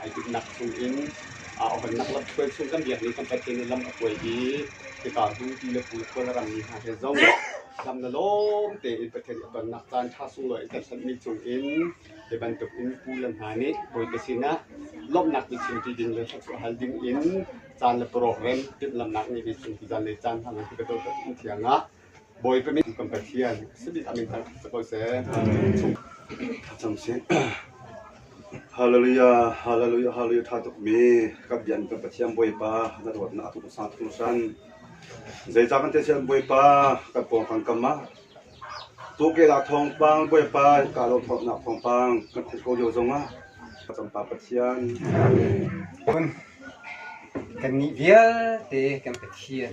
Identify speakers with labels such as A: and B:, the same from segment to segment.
A: Ai timhnak chungin Aohbannak lamhruai chung kan biakmi kan Pathian nih lam a kuai i hika bu ti le pul khual a rammi hna he zong lam na lawm tein Pathian i a tonnak caan ṭha sunglawi in kan hlatmi chungin hi bantukin pu le hna nih Bawipa sinah lawmhnak biachim ṭi ding le thluachuah hal ding in caan le parawhrem timhlamhnak ngeimi chung zan le caan hmangin hi bantukin thiang ah Bawipa min kan Pathian a min hmanh si ko seh. Hallelujah, hallelujah, hallelujah tha tukmi ka bian kan Pathian Bawipa na dawtnak tu sang tu san. Zeicah kan techian Bawipa ka pawng kan kama. Tu ke la thong pang Bawipa ka lo thong nak thong pang kan khung ko lio zong ah ka tampa Pathian. kan nih vialte kan Pathian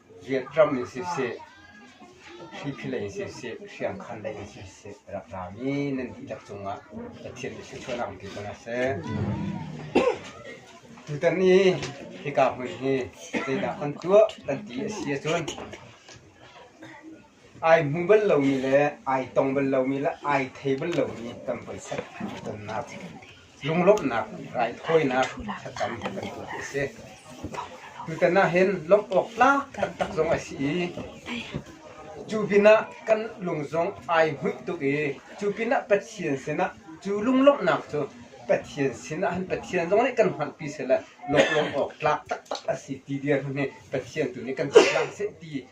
A: Riakṭam in siseh, thliphihlei in siseh, hriangkhanlei in siseh a rak ra mi nan dihlak cungah Pathian nih thluachuahnak in pe ko hna seh. Tutan i hika hmun hi zeidah kan tuah kan ti a si ahcun Ai hmu bal lomi le ai tong bal lomi le ai thei bal lomi tam pawisa tonnak, lunglawmhnak, raithawinak thlacam kan tuah hi a si. Tutan ah hin lawmh awk tlak taktak zong a si i, cu pinah kan lung zong ai hmuih tuk i, cu pinah Pathian sinah cu lunglawmhnak cu Pathian sinah han Pathian zong nih kan hmanpi sehla lawmh awk tlak taktak a si ti dirhmun hi Pathian tu nih kan chim hlah seh ti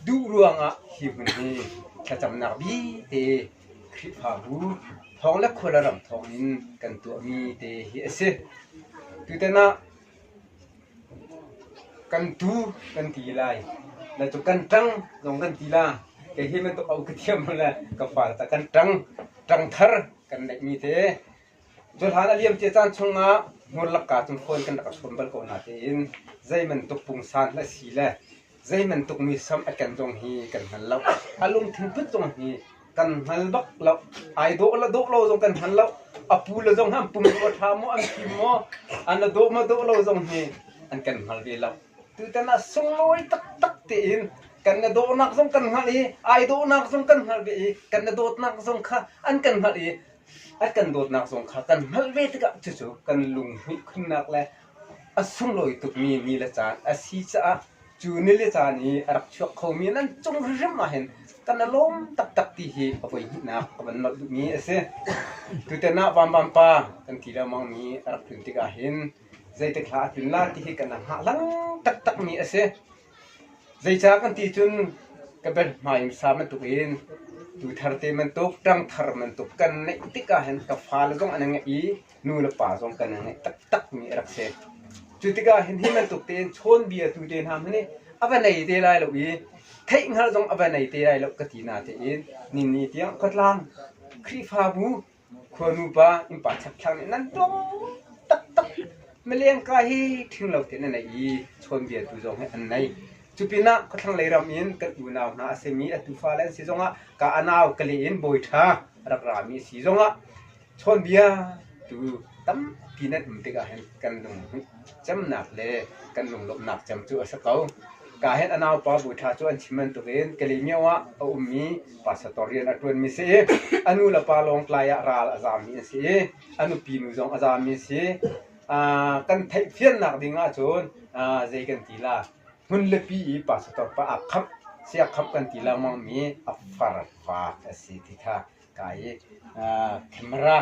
A: Duh ruangah hi hmun hi thlacamnak bite Khrihfabu thawng le khualaram thawngin kan tuahmi te hi a si. Tutan ah kan tu kan ti lai. Na cu kan ṭang zong kan ti la. Kei hi bantuk au ka thiam le ka far ta kan ṭang. Ṭang thar kan neihmi te Cuhlan a liamcia caan chungah hmurlak ka cu phone kan rak rak sawm bal ko na tiin zeibantuk pungsan na si le zeibantuk misam a ken zong hi kan hngal lo. A lungthin put zong hi kan hngal bak lo. Ai dawh lo dawh lo zong kan hngal lo. A pu le zong hi an pum dawh a ṭha maw, an fim maw, an a dawh maw dawh lo zong hi an kan hngal ve lo. Tutan ah sunglawi taktak tein kan na dawhnak zong kan hngalh i ai dawhnak zong kan hngalh ve i kan na dawtnak zong kha an kan hngalh i an kan dawtnak zong kha kan hngalh ve tikah cucu kan lunghmuih khunnak le a sunglawi tukmi ni le caan a si caah cu ni le caan i a rak chuak khomi nan cung hrimhrim ah hin kan i lawm taktak ti hi a voi hnihnak ka van nolh duhmi a si. Tuten ah Vamvam pa kan ti lengmang mi a rak tlun tikah hin zeitik hla a tlun la ti hi kan hngah lang taktakmi a si. Zeicah kan ti cun ka berhmai in sa bantuk in tu thar te bantuk, ṭang thar bantuk kan ngeih tikah hin ka fale zong an i ngaih i nu le pa zong kan i ngaih taktakmi a rak si. Cu tikah hin hi bantuk tein chawnbia tu te hna hmanh hi a va nei te lai lo i theihhngalh zong a va nei te lai lo ka ti na tein ninni tiang khuatlang Khrihfabu Khuanupa innpa chapthlang nih nan tlawm taktak. Milengka hi ṭhing lo tein an ei i chawnbiatu zong hi an nei. Cupinah khuathlanglei ram in kan unau hna a simi a tufale an si zongah ka a nau ka leh in bawi ṭha a rak rami a si zongah chawnbiatu tampi nan um tikah hin kan lungcemnak le kan lunglawmhnak cem cu a si ko. Ka hin a naupa bawi ṭha cu an chim bantukin Kalymyo ah a ummi Pastor rian a ṭuanmi si i a nu le pa lawng tlai ah ral a zami a si i a nupi nu zong a zami a si. kan theih fiannak ding ahcun zei kan ti la hmun lepi i pastor pa a khamh sia khamh kan ti lengmang mi a far faak a si ti kha ka i camera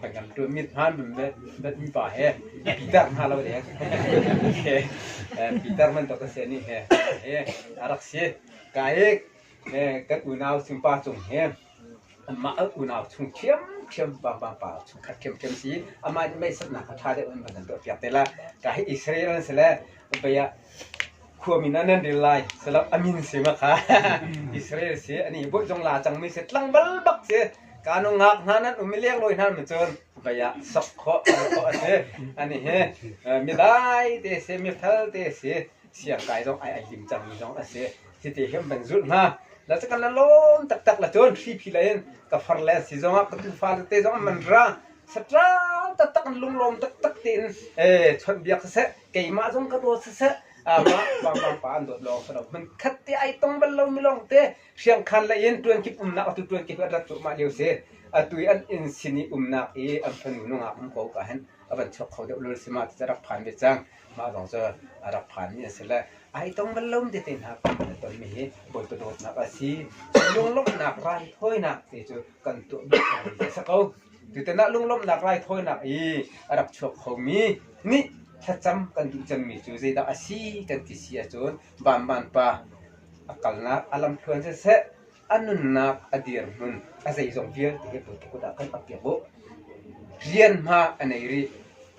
A: ban kan ṭuan mit hmaan ban bet mi pa he Peter hna lo le ke Peter man to ka se ni he a rak si ka i kan unau Singpa Cung hi amah unau chung ṭhiamṭhiam vangvangpa chung khat ṭhiamṭhiam si i amah nih meisapnak a ṭha deuh in van an tuahpiak te lai. Ka hi Israel an si le vei ah khuamin ah nan ril lai selaw a min si ma kha Israel si ani bunh zong la cangmi si tlang balbak si kanu ngak hna nan um i lek lawi hna mi cun vei ah sok khawh khawh a si ani hi midai te si mifel te si siangkai zong ai ai tim cangmi zong a si. Hiti hin van zulh hna. La cu kan la lawm taktak la cun thripi lei in ka far le si zong ah ka tufa te zong man ra satral taktak lunglawm taktak te in eh chon biak saseh keimah zong ka dawt saseh ama pangpang pa an dawt long sa lo man khat te ai tong bal lo mi long te hriang khan le in tuan kip umnak atu tuan kip rat tu ma liu se atui an in sini umnak i an fanu nungak um ko ka hen avan chok kho de ulul sima ti rak phan be chang Mah zong cu a rak phanmi a si le ai tong bal lo tete hna kan na tonmi hi Bawipa dawtnak a si. Lunglawmhnak raithawinak te cu kan tuah bal ko a si ko. Tutan ah lunglawmhnak raithawinak i a rak chuak khomi nih thlacam kan duh cemmi cu zeidah a si kan ti si ahcun Vanman pa a kalnak a lamthluan siseh A nunnak a dirhmun a zeizong vialte hi pulte kut ah kan ap piak u. Rian hma a nei rih.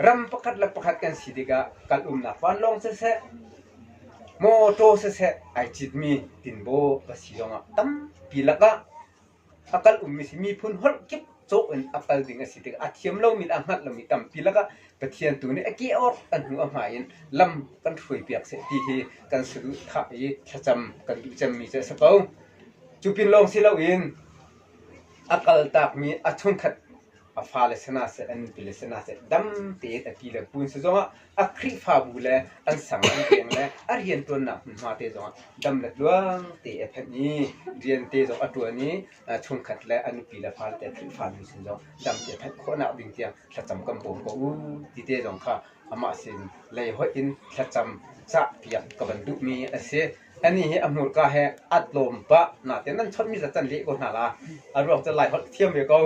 A: Ram pakhat le pakhat kan si tikah kal umnak vanlawng siseh, mawtaw siseh ai citmi tinbaw ka si zongah tampi lakah a kal ummi si miphun holh kip cawk in a pal ding a si tikah a thiam lomi le a hngalh lomi tampi lakah Pathian tu nih a kehawr a hnu a hmai in lam kan hruai piak seh ti hi kan saduhthah i thlacam kan duh cemmi cu a si ko. Cu pin lawng si loin a kaltakmi a chunkhat a fale sina seh an nupile sina seh dam tein a ti le pun si zongah a khrihfabu le an sang an peng le a riantuannak hmunhma te zongah dam le luang te a phan i rian te zong a tuan i chungkhat le a nupi le fate Khrihfami sin zong damte thanh khawhnak ding tiang thlacam kan bawm ko u ti te zong kha amah sin lei hoih in thlacam cahpiak ka van duhmi a si. Ani hi a hmurka he at lawm pa na te nan chonmi za can le ko hna la a ruang cu lai holh thiam ve ko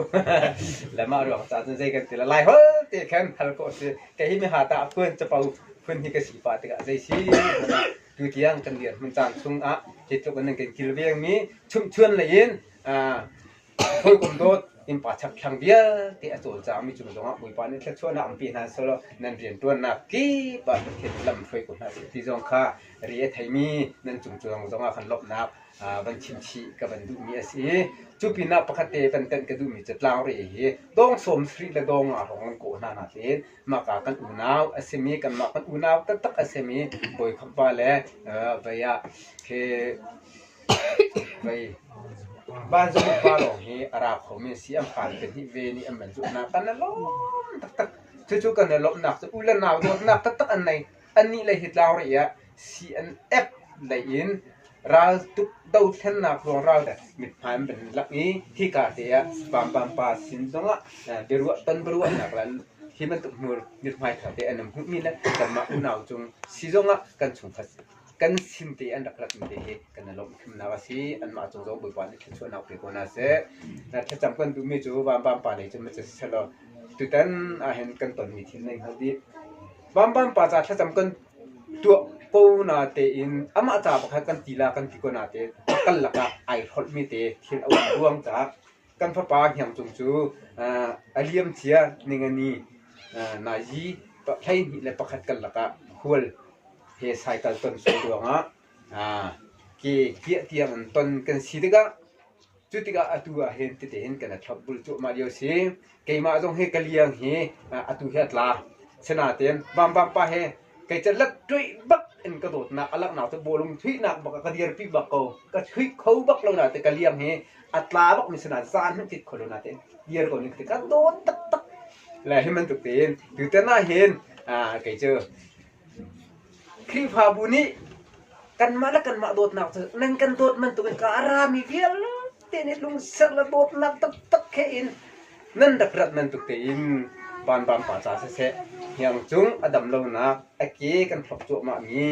A: le ma ruang ca cun zei kan ti la lai holh te khan hal ko si ka hi mi ha ta phun chapo phun hi ka si pa tikah zei si tutiang kan dir hmun caan chungah hi tluk in an kan kilvengmi chumchuan lei in hawikom dawt innpa chakthlang vialte a cawlcaangmi cung zongah bawipa nih thluachuahnak ampi hna solo nan rianṭuannak kip ah Pathian lam hruai ko hna sih ti zong kha ri a theimi nan cungcuang zongah khan lawmhnak van chimchih ka van duhmi a si i cu pinah pakhat te van tanh ka duhmi catlang re hi dawng sawm sri le dawng a rong an kawh hna hna tiin Mahka kan unau a simi, kanmah kan unau taktak a simi bawikhap va le vei ah khi vei vanzung pa lawng hi a ra khomi a si. An fale pahnih ve nih an van zuhnak kan a lawm taktak. Cucu kan i lawmhnak cu u le nau dawtnak taktak an nei. Anih le hi tlau rih ah CNF lei in raltuk dothlennak ruangral mithmai an van lak i hika te ah vampangpa sin zongah biaruah tonbiaruahnak le hi bantuk mithmaiṭha te an hmuhmi le kanmah unau cung si zongah kan chungkhat kan sin te an rak ratmi te hi kan i lawmhthemnak a si anmah cung zong Bawipa nih thluachuahnak pe ko hna seh thlacam kan duhmi cu vampangpa lei cun ma si selaw tutan ahhin kan tonmi thil na hngalh dih Bamban paca thlacam kan tuah ko na tein amah ca pakhat kan ti la kan ti ko na te kal lakah ai hrolhmi te thil a um ruang caah kan fapa hniang cung cu a liam cia ningani na yi hleihnih le pakhat kal lakah khual he cycle ton sun ruangah ke kiah tiang an ton kan si tikah Cu tikah atu ah hin tete hin kan thlop bul cuahmah lio si. Keimah zong hi ka liang hi atu hi a tla. Sinain Vanvang pa he kei ca lat tuih bak in ka dawtnak a langhnak cu bawlung chuihnak bak ka dirpi bak ko. Ka chuih kho bak lo na te ka liang hi a tla bak mi sinain zaan hmanh tit kho lo na te dir ko ning te ka dawt tak tak. Le hi bantuk tein tutan ah hin kei cu Khrihfabu nih kanmah le kanmah dawtnak cu nan kan dawt bantukin ka a rami vialte nih lungser le dawtnak taktak he in nan rak rat bantuk tein vanbang pa ca siseh hniang cung a dam lonak a ke kan thlop cuahmah mi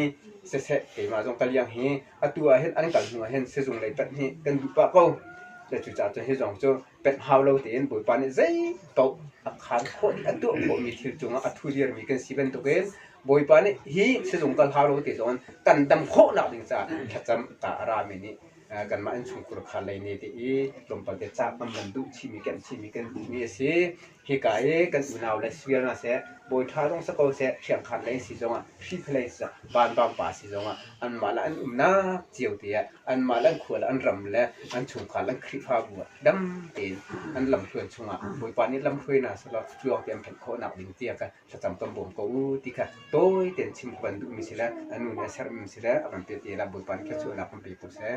A: siseh keimah zong ka liang hi atu ahhin an kal hnu ahhin sizung lei pahnih kan duh pah ko. Le cucaah cu hi zong cu pek hau lo tein Bawipa nih zeipaoh a khaan khawh i a tuah khawhmi thil cungah a thuziarmi kan si bantukin Bawipa nih hi sizung kal hau lo ti zong kan dam khawhnak ding caah thlacam ta a rami nih kanmah in chungkhar kha lei ne te i tlawmpal te cak an man duh chihmi kan chihmi kan duhmi a si Hika i kan unau le sir hna seh, bawi ṭha zong si ko seh, hriangkhat lei si zongah, hriphalei si zongah, vanvang pa si zongah, anmah le an umnak cio te ah, anmah le an khua le an ram le an chungkhar le an Khrihfabu ah dam tein an lamhruan chungah Bawipa nih lamhruai hna selaw cuang tein an phanh khawhnak ding tiah ka thlacam kan bawm ko u ti kha tawi tein chim kan duhmi sile a nu nih a sermi sile a kan pehte la Bawipa nih thluachuahnak kan pe ko seh.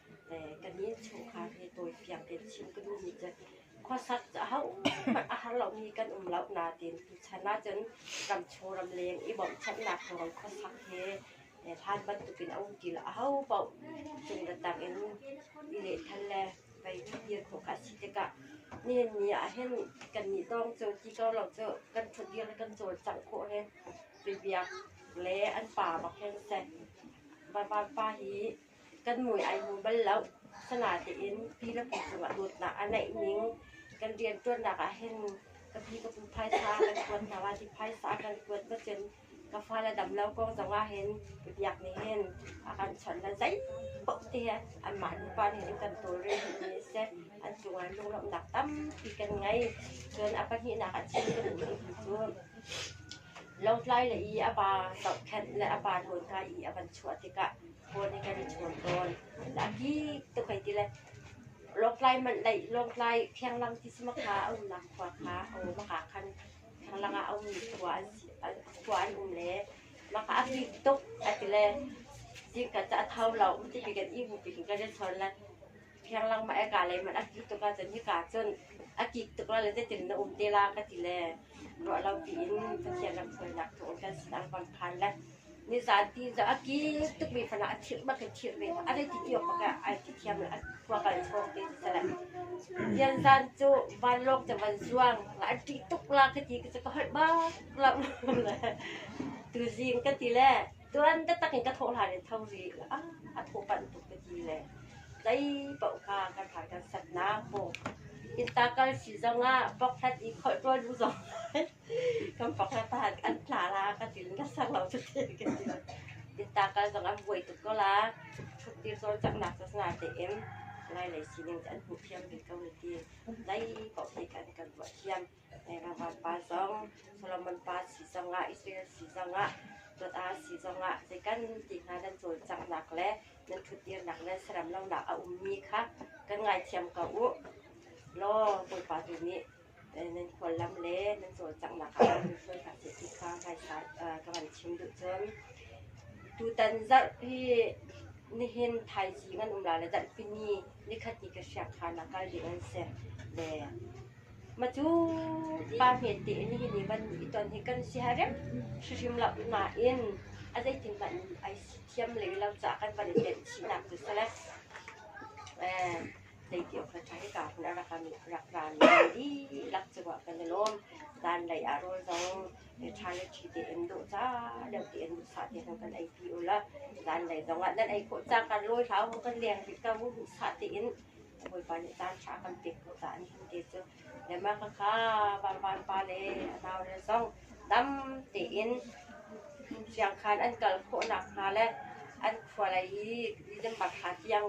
A: ka ni chungkhar hi tawi fiang tein chim ka duh nih cun khuasak cu ahohmanh a har lomi kan um lo na tiin tuchan ahcun ramchung ramleng i bawmhchanhnak ruang khuasak hi hlan bantukin a um ti lo ahopaoh cungra tangin i lehthan le vai dir hnawk a si tikah nihin ni ahhin kannih dawng cu ti ko lo cu kan ṭhutdir le kan cawlcangh khawh hi bibiak le an pa bak hin si. Bawipa hi kan mui ai hmu bal lo. Asinatein pi le pu cungah dawtnak a neih ning kan rianṭuannak ahhin ka pi ka pu phaisa kan kuat hna hnga ti phaisa kan kuat va cun ka fale damlo kong zongah hin ka biak nih hin a kan chawnh le zeipoh te hi anmah nupa nih hin kan tawlrel dihmi a si. An cungah lunglawmhnak tampi kan ngei. Cun a pahnihnak a chim ka duhmi hi cu Lawngtlai le i a va zohkhenh le a va nawl hna i a van chuah tikah phone in kan i chawn tawn. A dih tuk hei ti le lawngtlai manh leih lawngtlai thianglang ti si ma kha a umnak khua kha a um a ha khan thianglang ah a ummi khua an si an- khua an um le mah kha a kik tuk a ti le zingka cu a tho lo um ti bik in i hmuh bik in kan i chawn le Fianglang mah e kaa lei hmanh a kik tuk ahcun hika cun a kik tuk lo le zeitin na um te la ka ti le ruah lo piin Pathian ram sualnak thawng kan sin ang bang khan le nizan ti cu a kik tukmi fanah a thirh bak in thirh ve a rei ti ti awk bak ah ai ti thiam le a khua kal chawng te ti sele Dianzan cu vanlawng cu van zuang la an ṭih tuk la ka ti ka cu ka holh bak lo le tuzing ka ti le Cun biatak in ka thawh hlan in tho rih. A thaw panh tuk ka ti le zei paoh kha kan hmai kan sannak maw, innka kal si zongah bokhlat i kholh ṭuan bu zong kan bokhlat ah an tla la ka ti in ka sang lo cu teh ka ti lo. Innka kal zong an buai tuk ko la, ṭhuttir cawlcanghnak cazna tein Lai lei sining cu an hmuh thiam rih ko hi ti. Zei paoh hi kan kan ruah thiam. Jehovah Pa zong Solomon pa si zongah, Israel si zongah, dawt aa si zongah zeikan ti hna nan cawlcanghnak le nan ṭhutdirnak le saram lonak a ummi kha kan ngaithiam ko u. Law Bawipa tu nih nan khuallam le nan cawlcanghnak ah a ummi hruai hna seh ti kha ngaisai ka van chim duh cun, tutan zarh hi nihin thaizing an um la le zarhpini nikhat ni ka hriak kha nakal ding an si. Le Matu pa hme tein hihi ni van i ton hi kan si ha rem hrim lo. Nain a zeitin hmanh ai thiam lei lo caah kan van i tenhchihnak cu si le zeitiawk hna ṭha hika hmun a rak kan rak ran dihlak cungah kan i lawm. Zan lei ah rawl zong ṭha le ṭhi tein dawh ca deuh tein duhsah tein kan ei pi u la. Zan lei zongah nan ei khawh cang kan lawi hlah u, kan leng rih ko u duhsah tein. Bawipa nih caan ṭha a kan pek ko caah nihin te cu Denmark a ka varvar pale a naule zong dam tein siangkhan an kal khawh nakhnga le an khua lei i December thla tiang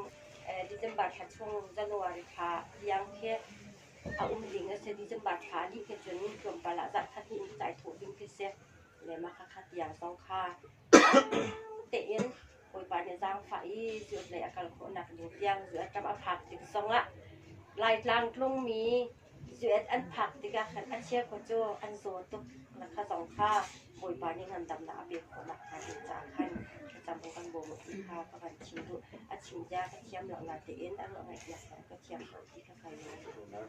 A: eh December thla chung January thla tiang khi a um ding a si. December thla dih khi cun tlawmpal ah zarh khat hnih in caih thawh ding khi si. Le mah khakha tiang zong kha dang tein Bawipa nih zaangfah i zutlei a kal khawhnak ding tiang zuaṭam a phak tik zongah Laitlang tlungmi zuet an phak tikah khan a chia kho cu an zaw tuk na kha zong kha Bawipa nih ngandamnak a pek khawh nakhnga ding caah khan thlacam u kan bawm u ti kha ka van chim duh a chim bia ka thiam lo natein a ruah ngaihpiak zong ka thiam lo ti kha ka lung a tling.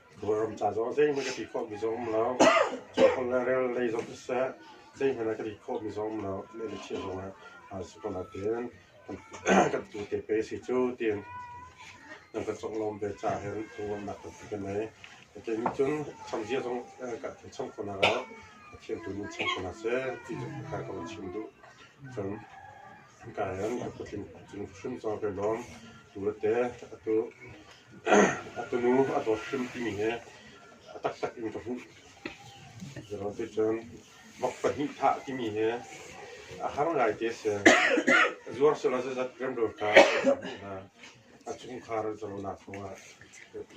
A: Kawlram ca zong ah zeihmanh ka tih khawhmi zong um lo. Cuaholh le rel lei zong siseh, zeihmanh ah ka tih khawhmi zong um lo. Meh le chia zong ah aa si ko nain kan tuu te pei a si cu tiin nan ka conglawm ve caah hin thawhruahnak tampi ka ngei. Kei nih cun khamzia zong kan cham ko hna lo, Pathian tu nih cham ko hna seh ti zong kha ka van chim duh. Cun Kayan a kutling tling hrim cang ve lawm. Tu te a tunu a dawt hrim timi hi a taktak in ka hmuh. Zeiruang ticun vok pahnih thah timi hi a har ngai ti a si. Zuar sehlaw zeizat remrel kha ka hmuh hna. A chungkhar zalonak kongah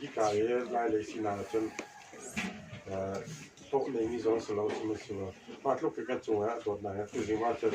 A: hika i lailei sinak ahcun hlawh neimi zong si lo, sihmanhsehlaw mah tluk in kan cungah dawtnak hi a tuzing ahcun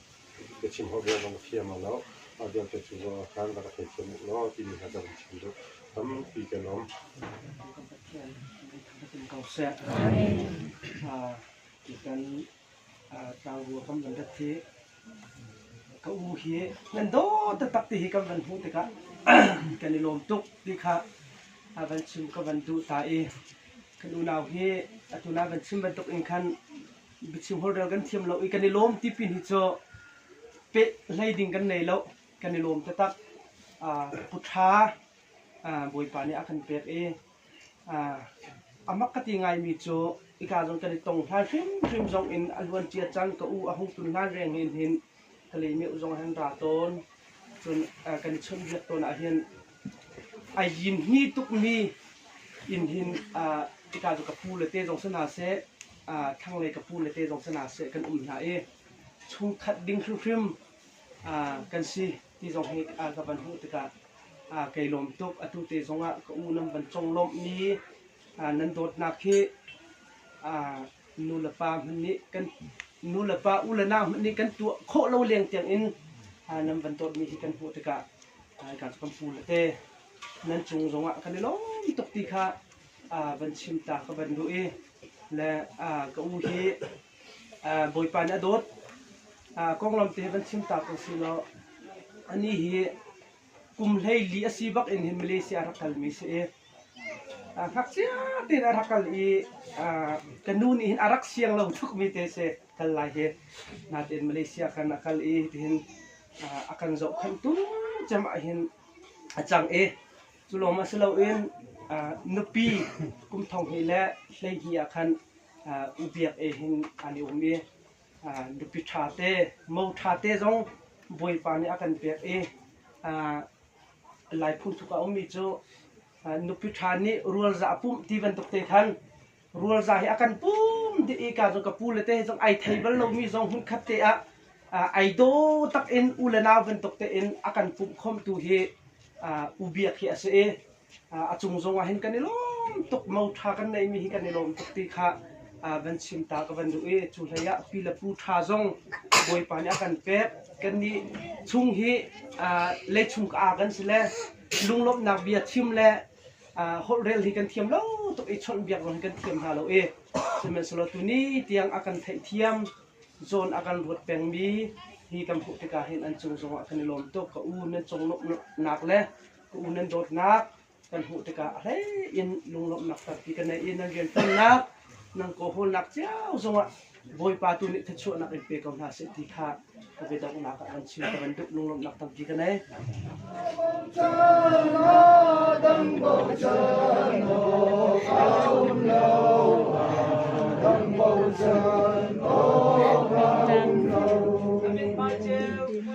A: Biachim holh rel zong thiam a loh. Mah vialte cu ruah ahkhan rak ka theithiam u law timi hna ka vun chim duh. Tampi ka lawm. Pathian ko seh. Kan tlangbu kam kan rat hi ka u hi nan dawt taktak ti hi kan van hmuh tikah kan i lawm tuk ti kha van chim ka van duh ta i kan unau hi atu na van chim bantuk in khan biachim holhrel kan thiam lo i kan i lawm ti pin hi cu peh hlei ding kan nei lo kan i lawm te tak puṭha bawipa nih a kan pek i a mak ka ti ngaimi cu ika zong kan i tong hlan hrimhrim zong in a luancia cang ka u a hung tun hlan reng hin hin Thalei-meuh zong an ra tawn. Cun kan chunhbiak tawn ahhin a yin hni tukmi inn hin hika cu ka pu le te zong si hna seh, thlanglei ka pu le te zong si hna seh kan um hna i chungkhat ding hrimhrim kan si ti zong hi ka van hmuh tikah kai lawm tuk. Atu te zongah ka unam van conglawmhmi nan dawtnak hi nulepa u le nau hmanh nih kan tuah khawh lo leng tiangin nan van dawtmi hi kan hmuh tikah ka kan pu le te nan cung zongah kan i lawm tuk ti kha van chim ta ka van duh i le ka u hi bawipa nih a dawt konglawm te van chim ta ko si law ani hi kum hleili a si bak in hin Malaysia a rak kalmi si i ngakchia tein a rak kal i ka nu nih hin a rak siang lo tukmi te si kal lai hi natein Malaysia kan a kal i tihin a kan zohkhenh tungcem ah hin a cang i cu lawng ma si loin nupi kum thong hi le hlei hi ah khan ubiak e hin an i um i nupi ṭhate, mo ṭhate zong Bawipa nih a kan pek i Lai phungthluk ah a ummi cu nupi ṭha nih rualzah a pumh ti bantuk te khan rualzah hi a kan pum dih i ka zong ka pu le te zong ai thei bal lomi zong hmun khat te ah ai daw tak in u le nau bantuk tein a kan pumh khawmtu hi ubiak hi a si i a cung zongah hin kan i lawm tuk mo ṭha kan neihmi hi kan i lawm tuk ti kha van chim ta ka van duh i cu hlei ah pi le pu ṭha zong bawipa nih a kan pek kannih chung hi lei chung ka aa kan si le lunglawmhnak bia thim le holhrel hi kan thiam lo tuk i chawnh biak zong hi kan thiam hna lo i sihmanhsehlaw tuni tiang a kan theih thiam zawn a kan ruat pengmi hi kan hmuh tikah hin an cung zongah kan i lawm tuk ka u na conglawmhnak le ka u nan dawtnak kan hmuh tikah a hlei in lunglawmhnak tampi ka nei i nan rianṭuannak nan kawhawlnak cio zongah Bawipa tu nih thluachuahnak in pe ko hna seh ti kha ka biadonghnak ah kan chim ka bantuk lunglawmhnak tampi ka nei. Amin.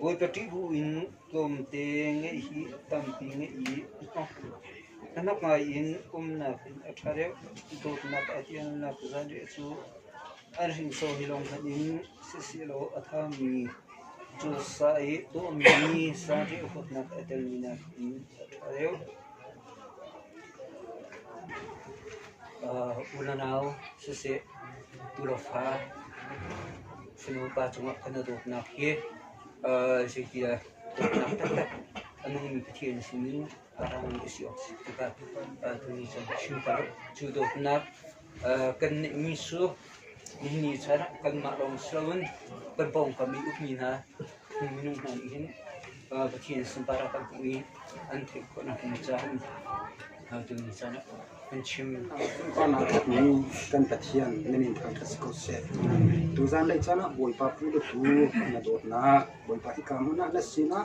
A: Bawipa ṭihhu in tlawmte ngeih hi a tampi ngeih i hnahnok ngaiin umnak in a ṭha deuh. Dawtnak a ṭialnak zanriah cu an hrinsor hi lawng hmanh in sihsehlaw a ṭhami cu sa i tuahmi ni zanriah huatnak a telmi nakin a ṭha deuh. Unau siseh, tulofa sinupa cungah kan i dawtnak hi zeitindah dawtnak taktak a nungmi Pathian sinin a rangmi a si awk a si tikah tuni cun a chim ko. Cu dawtnak kan neihmi cu nihin ni chan ah kanmah lawng si loin kan pawngkam i ukmi hna minung hna nih hin Pathian sunpar ah kan hmuh i an theih khawhnak ding caah tuni caan ah kan chim. Awnak tukmi kan Pathian nan in thang kha si ko seh. Tuzan lei caan ah Bawipa pu le pu na dawtnak Bawipa i ka hmuhnak na sinah